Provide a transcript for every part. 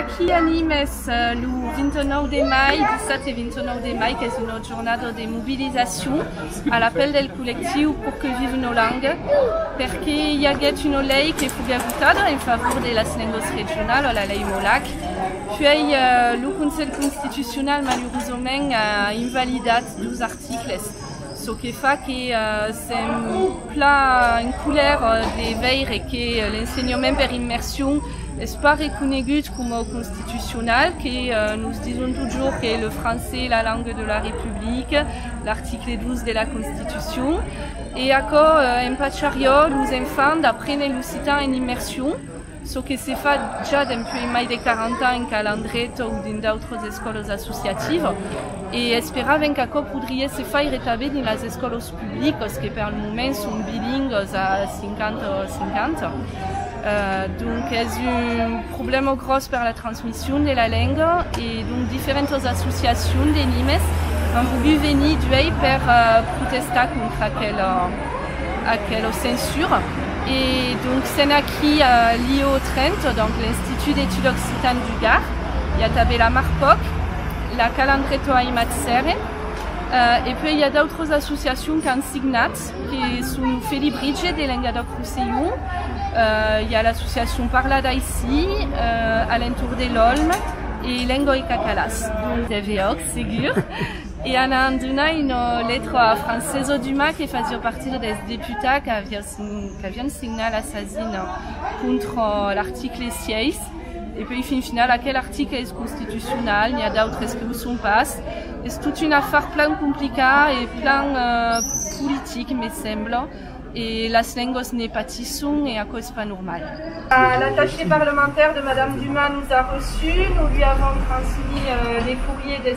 Aquí animes lo 29 de mai, 17 e 29 de mai, qu'es una jornada de mobilizacion a la pel del collectiu Pour que vive nos langues, perque i aguèt una lei que foguè votada en favor de las lengas regionalas, la lei Molac, puèi lo Conselh Constitucional malurosament a invalidat dos articles. çò que fa que sèm plan en colèr de veire que l'ensenhament per immersion es pas reconegut coma constitucional, que nos dison totjorn qu'es le francés la lenga de la Republica, l'article 12 de la Constitucion, e aquò empachariá los enfants d'aprene l'occitan en immersion. çò que se fa ja dempuèi mai de 40 ans qu'a Landreta o dins d'autras escòlas associativas e esperavèm qu'aquò podriá se faire tanben dins las escòlas publicas que pel moment son bilingas a 50 a 50. Donc es un problèma gròs per la transmission de la lenga e donc diferentas associacions de Nimes an volgut venir d'uèi per protestar contra aquela. Aquelo censura. E donc sèn aquí a l'IEO Trento, donc l'Institut d'Etudes Occitanes du Gard. I a tanben la Marpoc, la Calandreto Aimat Sèren. E puèi i a d'autras associacions qu'an signat, que son Felibritge de Lengadòc-Rossellon, i a l'associacion Parla d'Aicí, Alentor de l'Òlm e Lenga e Cacalàs. Tv Òc, segur. E anant donar una letra a Francesò Dumas que fasiá partida dels deputats qu'avián signat la sasina contra l'article 6. E puèi fin final aquel article es constitucional, n'i a d'autres que o son pas. Es tot un afar plan complicat e plan politic me sembla e las lengas ne patisson e aquò es pas normal. L'attaché parlementaire de madame Dumas nous a reçu, nous lui avons transmis le courrier des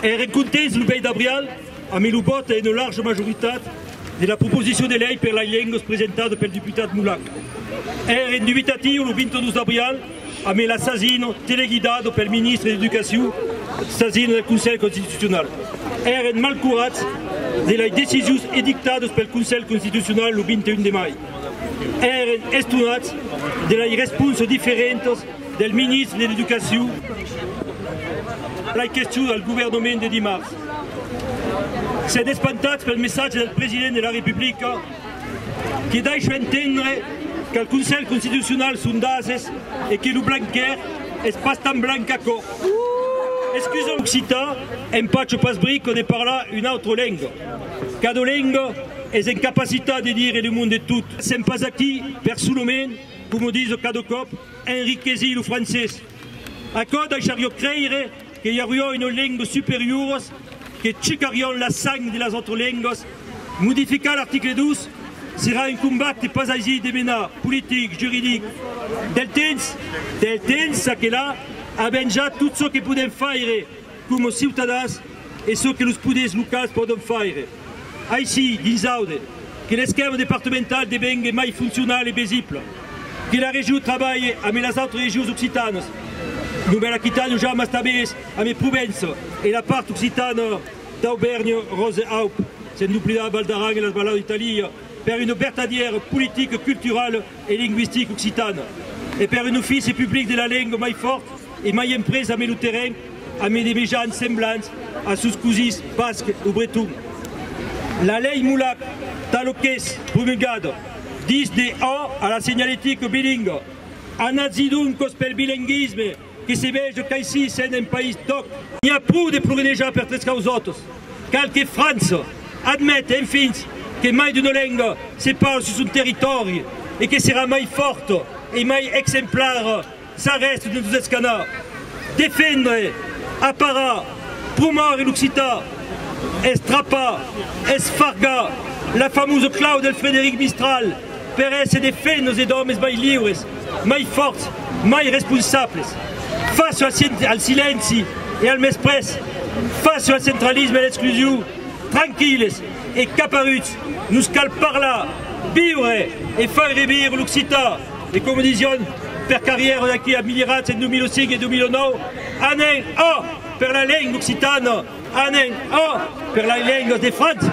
Es recontents lo 20 d'abrial amé lo vòt a una larja majoritat de la proposicion de lei per lai lengas presentada pel deputat Molac. Èr en dubitatiu lo 22 d'abrial amé la sasin teleguidada pel ministre d'Educacion, sasin del Conselh Constitucional. Èrem malcurats de lai decisions edictadas pel Conselh Constitucional lo 21 de mai. Èren estonats de lei responsas diferentas del ministre de l'Educacion a lei questions al governament de dimars. S'èn espantats pel messatge del president de la Republica que daisha entendre qu'al Conselh Constitucional son d'ases e que lo blanquèr es pas tan blanc qu'aquò. Excusam occitan, empatjo pas brico de parlar una autra lenga. Cada lenga es en capacitat de dire le monde tot. Sèm pas aquí, personaument, coma diso cada còp, a enriquesir lo francés. Aquò daishariá creire que i auriá una lenga superioras que checarián la sang de las autras lengas. Modificar l'article 2 serà un combat que pas aisi de menar, politic, juridic. Del temps, del temps, çaquelà, avèm ja tot çò que podèm faire. Coma ciutadans, es çò que los poders locals pòdon faire. Aicí, dins Aude, que l'esquèma departamentau devengue mai foncional e besibla, que la Region trabalhe amé las autres regions occitanas, Novèl Aquitània o ja mas tanbés amé Provença e la part occitana d'Aubèrnha, Ròse-Aup, sen doblidar Val d'Aran e las Valaus d'Italia, per una vertadièra politica culturala. e lingüistic occitan e per un ofici public de la lenga mai fòrt e mai emprés amé lo terrenh amé de mejans semblants a sos cosins basc o breton. La lei Molac, talo qu'es promulgada, dis de a a la senhaletica bilinga, Anatz-i-doncos pel bilinguisme! Que se veja qu'aicí sèn un país d'òc. N'i a pro de ploguenejar per tres causòtas. Cal que França admete, enfin, que mai d'una lenga se parle sus son territòri e que serà mai fòrta e mai exemplara s'arrèsta de nos escanar. Defendre, aparar, promòure l'occitan, estrapar, esfargar, la famosa clau del Frederic Mistral. Per èsser de fait nos e d'òmes mai liures, mai fòrts, mai responsables. Fàcia al silenci e al mesprés, fàcia al centralisme e a l'exclusion, tranquilles e caparuts, nos cal parlar, viure e far revir l'occitan. E coma disián Per Carrièro d'aquí a milh ans en 2005 e 2009, Anem a! per la lenga occitana, anem a! per las lengas de França.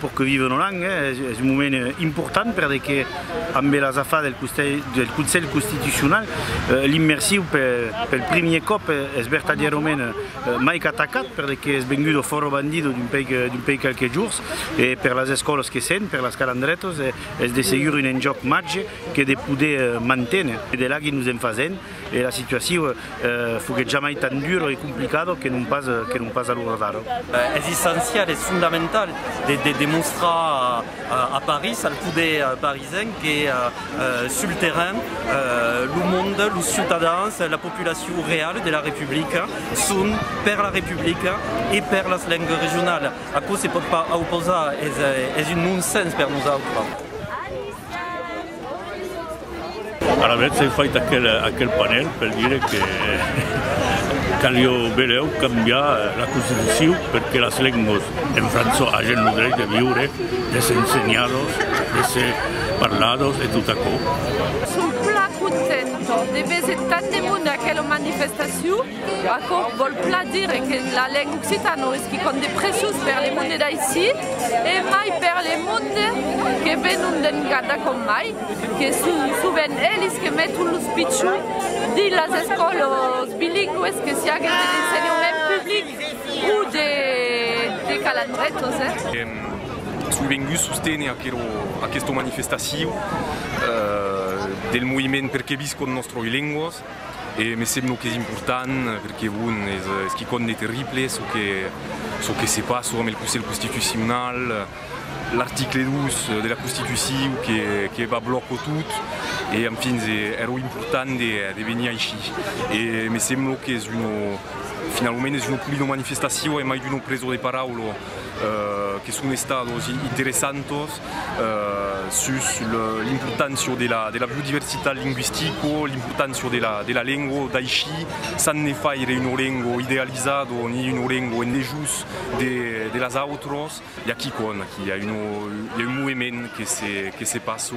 Pour que vive Nolan es un moment important perdé que ambe las afas del Conselh Constitucional l'immersiu pel primier còp es vertadièrament maic atacat perdé que es vengut au fòro bandido d'un pei quelques jours e per las escòlas que sent per las calandretas es de segur un enjòc màger que de poder manténer. De là que nos en fasent E la situaciu foguèt jamai tan dura e complicada que non pas que non pas a l'ora d'ara. Es essencial, es fondamental de demostrar a Paris, al poder parisenc, que sul terrain lo monde, los ciutadans, la populaciu real de la Republica son per la Republica e per las lengas regionalas. Aquò se pòt pas auposar, es un non-sens per nosautres. Alavetz ai fait aquel panèl per dire que calió belèu cambiar la constitucion per que las lengües en França agen lo drech de viure, de s'ensenhar-los, de se parlar-los e tot aquò. Son plan content de veser tant de monde a aquela manifestacion. Aquò vòl plan dire que la lenga occitana non es quicòm de preciós per le monde d'aicí e mai per le monde que venon d'Engada com mai, que son sovent elis que meton los pichons dins las escòlas bilingües que siáguen de l'ensenhament public o de Calandretas. Èm soi venguts sostener aquerò, aquesta manifestacion del moviment Perqué viscon nos tròi lenguas? E me semblo qu'es important perque bon es quicòm de terrible çò que se passa amb el Conselh Constitucional, l'article 2 de la Constituciu que va blòco tot e en fins ero important de venir aici e me semblo qu'es finalament es una polida manifestacion e mai d'una presa de paraula. que son estados interessantos sus l'importància de la biodiversitat lingüistica, l'importància de la lengua, d'aicí s'an de faire una lengua idealizada ni una lengua en dejús de las autras, i a quicòm, aquí i a un movement que se passa.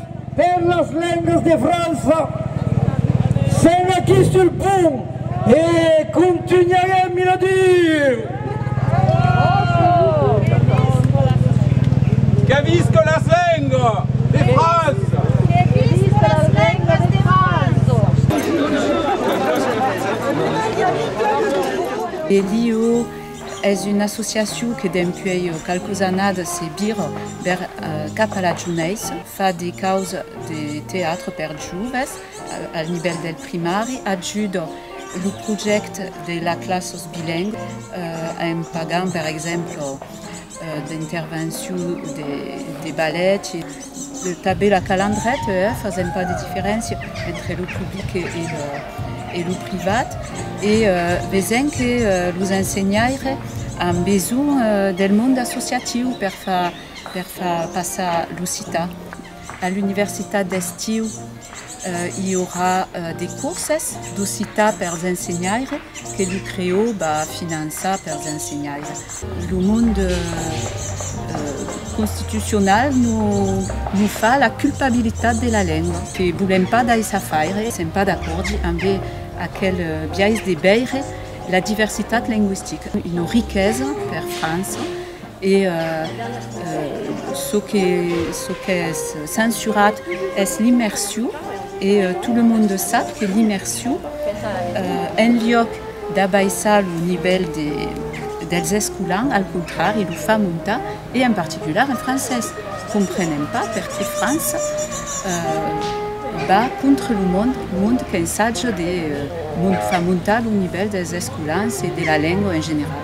Per las lengas de França, sèm aquí sul pont e contunharem i la diu! Que visca las lengas de França! Que visca las lengas de França! Bediu! Es una associacion que dempuèi qualques annadas se vira bèr cap a la jounés, fa de caus de teatre per joves al nivèl del primari, ajuda lo projècte de las classes bilengües en pagant per exemple d'intervencion de ballet e tanben la calandreta eh fasèm pas de diferéncia entre lo public e lo privat e vesèm que los ensenhaires an besonh del monde associatiu per far passar l'occitan A l'universitat d'estiu i aurà de corses d'occitan pels ensenhaires que lo creò va finançar pels ensenhaires. Lo monde constitucional nos fa la culpabilitat de la lenga. Que volèm pas daissar faire. Sèm pas d'acòrdi ambe aquel biais de veire la diversitat lengüistica. Una riquesa per França E çò qu'es censurat es l'immersion, e tot lo monde sap que l'immersion, en liòc d'abaissar lo nivèl dels escolans, al contrari, lo fa montar, e en particular en francés. Comprenem pas perqué França va contra lo mond, lo mond qu'ensaja de far montar lo nivèl dels escolans e de la lenga en general.